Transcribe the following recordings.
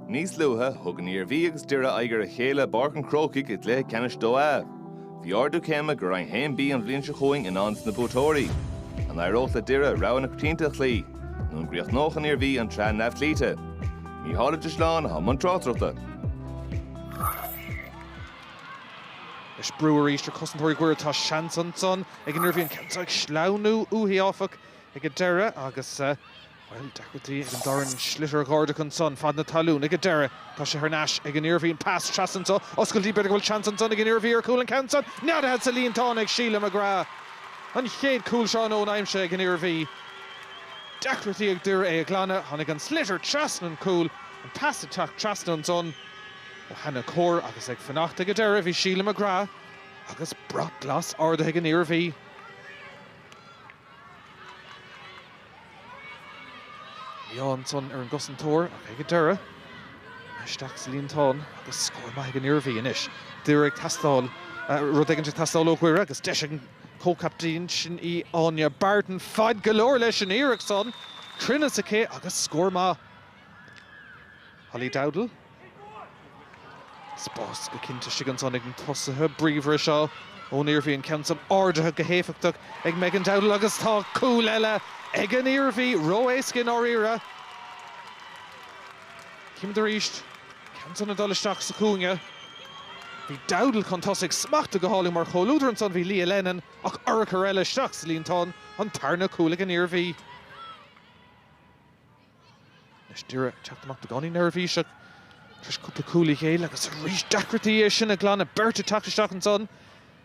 Níos luaithe, thug an Iarmhí agus Doire aghaidh ar a chéile i bPáirc an Chrócaigh i gcluiche ceannais Dó A. Bhí ardú céime go Roinn 1B an bhliain seo chugainn i ndán dos na buaiteoirí. An éireodh le Doire rogha na coitianta a chloí? Nó an gcríochnódh an Iarmhí an tsraith neamhchloíte? Mícheál Ó Drisleáin, atá i mbun tráchtaireachta. Is brú arís ar chosantóirí Dhoire. Tá seans ansan ag an Iarmhí an ceann seo ag sleamhnú uathu, áfach, ag an deireadh agus. Bhuel, deacrachtaí ag an Doran sliotar a dh'ardach ansan, fad na talún ag a deireadh. Tá sé thar n-ais ag an Iarmhí, an pas trasna anso, oscailtí, b'fhéidir go bhfuil seans ansan ag an Iarmhí ar chúl an ceann san, neadaithe sa líontán ag Sheila McGrath. An chéad cúl seo um nóin aimsithe ag an Iarmhí. Deacrachtaí ag Doire é a ghlanadh, tháinig an sliotar trasna an chúl, an pas ag teacht trasna ansan ó Hannah Core agus ag fanacht ag a deireadh bhí Sheila McGrath agus brat glas ardaithe ag an Iarmhí. Bhí ádh ansan ar an gcosantóir ach ag an deireadh, isteach sa líontán agus scór maith ag an Iarmhí. Anois, Doire ag teastáil, rud éigint ag teastáil ó Dhoire agus deis ag an gcomhcaptaen, sin í Áine Barton. Fad go leor leis an iarracht san, cruinneas aici agus scór maith. Holly Dowdall. Spás go cinnte istigh ansan ag na tosaithe bríomhara seo ón Iarmhí, an ceann san ardaithe go héifeachtach ag Megan Dowdall agus tá cúl eile ag an Iarmhí, ró-éasca i ndáiríre. Chímid arís ceann san ag dul isteach sa chúinne. Bhí Dowdall chun tosaigh, smachtaithe go hálainn mar chomhluadar ansan bhí Leah Lennon ach urchar eile isteach sa líontán, an tarna cúl ag an Iarmhí. Anois Doire ag teacht amach i gcónaí neirbhíseach tar éis cúpla cúl a ghéilleadh agus arís deacrachtaí é sin a ghlanadh. Beirt ag teacht isteach ansan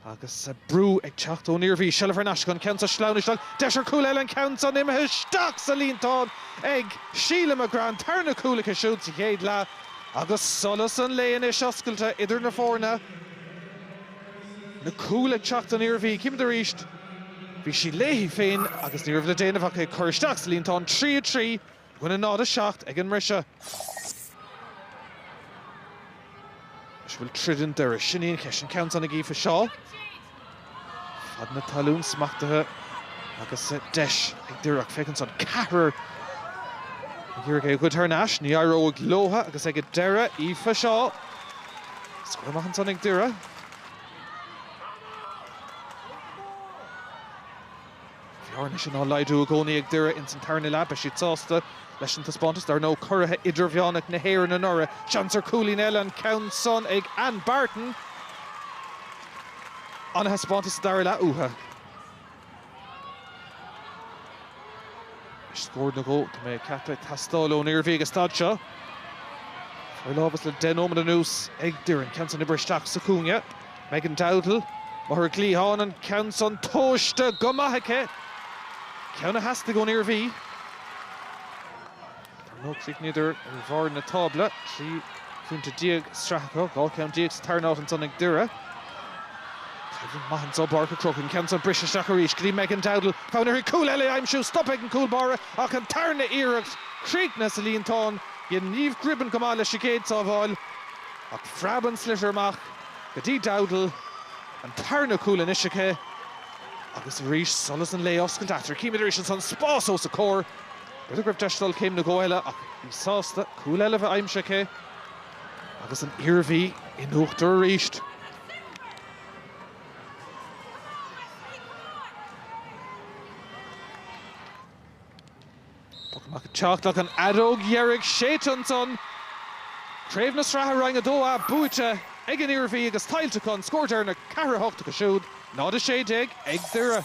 agus brú ag teacht ón Iarmhí. Seilbh thar n-ais acu, an ceann seo sleamhnaithe isteach, deis ar chúl eile, an ceann san imithe isteach sa líontán ag Sheila McGrath. An tarna cúl aici siúd sa chéad leath agus solas an lae anois oscailte idir na foirne. na cúil ag teacht don Iarmhí. Chímid arís bhí sí léi féin agus ní raibh le déanamh ach í a chur isteach sa líontán. 3, 3, i gcoinne 0, 7 ag an mbriseadh. Anois bhfuil troid i nDoire? Sin í an cheist. An ceann san ag Aoife Shaw. Fad na talún smachtaithe agus deis ag Doire ach féach ansan. Ceathrar ag iarraidh é a ghoid thar nais. Ní éireoidh leotha agus ag an deireadh Aoife Shaw. Scór maith ansan ag Doire. An bhearna sin á laghdú i gcónaí ag Doire ins an tarna leath. Beidh siad sásta leis an taispeántas. Dar ndóigh, curaithe idirmheánacha na hÉireann anuraidh. Seans ar chúilín eile. An ceann san ag Áine Barton. An-thaispeántas sa dara leath uathu. Scór nó dhó atá mé ceaptha ag teastáil ón Iarmhí ag an staid seo. Forlámhas le deich nóiméad anuas ag Doire. An ceann san oibrithe isteach sa chúinne. Megan Dowdall, má tá ar an gcliathán, an ceann san tomhaiste go maith aici. Ceann a theastaigh ón Iarmhí. Ar ndóigh, chríochnaíodar ar bharr na tábla, 13 phointe sraithe acu, 12 ceann sa tarna áit ansan ag Doire. Taobh maith anso i bPáirc an Chrócaigh, an ceann san briseadh isteach arís go dtí Megan Dowdall. Fonn uirthi cúl eile a aimsiú, stop ag an gcúl báire ach an tarna iarracht críochnaithe sa líontán, dhein Niamh Gribben go maith leis an gcéad sábháil ach phreab an sliotar amach go dtí Dowdall. An tarna cúl anois aici agus arís solas an lae oscailte eatarthu. Címid arís ansan, spás os a comhair B'fhéidir go raibh deis dul céim nó dhó eile ach í sásta cúl eile bheith aimsithe aici agus an Iarmhí in uachtar arís. Poc amach ag teacht ach an fheadóg dheiridh séidte ansan. Craobh na Sraithe Roinn 2A buaite ag an Iarmhí agus tuillte acu, an scór deireanach, 4-8 acu siúd, 0-16 ag Doire.